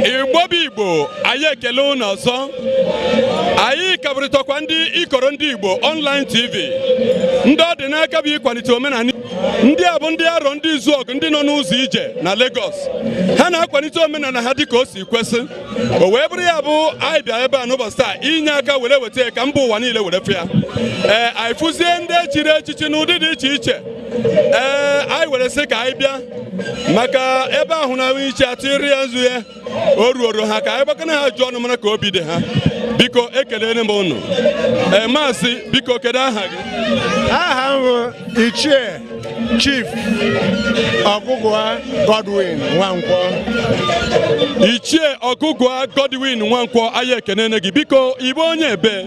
igbo bụ igbo anyị ekele ụnụ ọzọ anyị kabụrịtakwa ndị ikoro ndị igbo online tv ndị ọ dị n'aka bụ ịkwalite omenala ndị a bụ ndị Arọndịzuọgụ ndị nọ n'ụzọ ije na Lagos ha na-akwalite omenala ha dịka o si kwesị o wee bụrụ ya bụ anyị bịa ebe a n'ụbọchị taa inye aka were weta ka mba ụwa niile were fụ ya ee anyị fụzie ndị e chiri echichi n'ụdị dị iche iche ee anyị were sị ka anyị bịa maka ebe ahụ na iche atụ iri ya nzu ya o ruoro ha ka anyị gbakene ha ajụjụ ọnụ mara ka obi dị ha biko ekelere m ụnụ ee maazị biko kedu aha gị aha m bụ ichie chief ọgụgụa godwin nwankwọ ichie ọgụgụa godwin nwankwọ anyị ekenene gị biko ị bụ onye ebe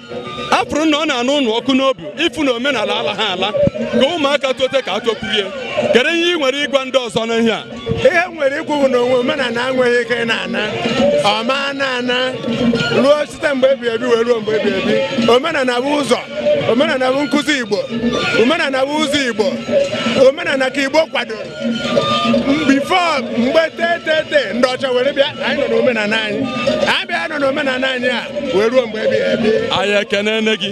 a fụrụ na ọ na-anụ ụnụ ọkụ n'obi ịfụ na omenala alaha ala ka ụmụaka tote ka ha tokwuru ya kedu ihe ị nwere ịgwa ndị ọzọ n'ihe a ihe m nwere ikwu bụ na onwe omenala enweghị ike ịna ana ọ ma na ana ruo site mgbe ebi ebi wee ruo mgbe ebi ebi omenala bụ ụzọ omenala bụ nkụzi igbo omenala bụ ụzọ igbo omenala ka igbo kwadoro before mgbe tetete ndị ọcha were bịa anyị nọ n'omenala anyị anyị bịa nọ n'omenala anyị a wee ruo mgbe ebi ebi anyị ekenene gị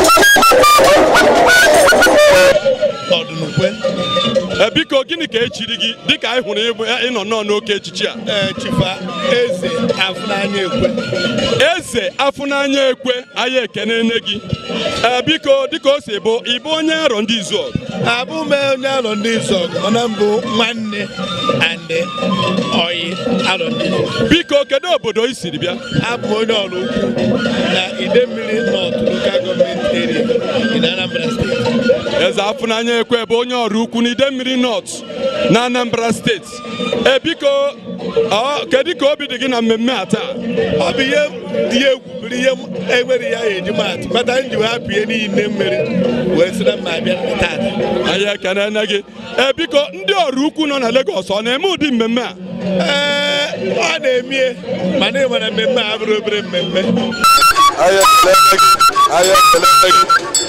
biko gịnị ka e chiri gị dịka anyị hụrụ ị nọ nnọọ n'oke echichi a chief eze afụnanya ekwe eze afụnanya ekwe anyị ekenene gị biko dịka o si bụ ị bụ onye Arọndịzuọgụ abụ m onye Arọndịzuọgụ mana m bụ nwanne and ọyị arọ ndị biko kedu obodo i siri bịa abụ m onye Ọraukwu na Idemmiri North Local Government Area in Anambra State eze afụnanya ekwe bụ onye Ọraukwu na Idemmiri North na Anambra State ee biko kedu ka obi dị gị na mmemme a taa ọ bụ ihe dị egwu bụrụ ihe enwere ya e ji maa atụ kpata m ji wee hapụ ihe niile m nwere wee sị na m ma abịa taata anyị ekenene gị ee biko ndị Ọraukwu nọ na Lagos ọ na-eme ụdị mmemme a ee ọ na-emie mana ị nwere mmemme a bụrụ obere mmemme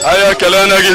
anyị ekelene gị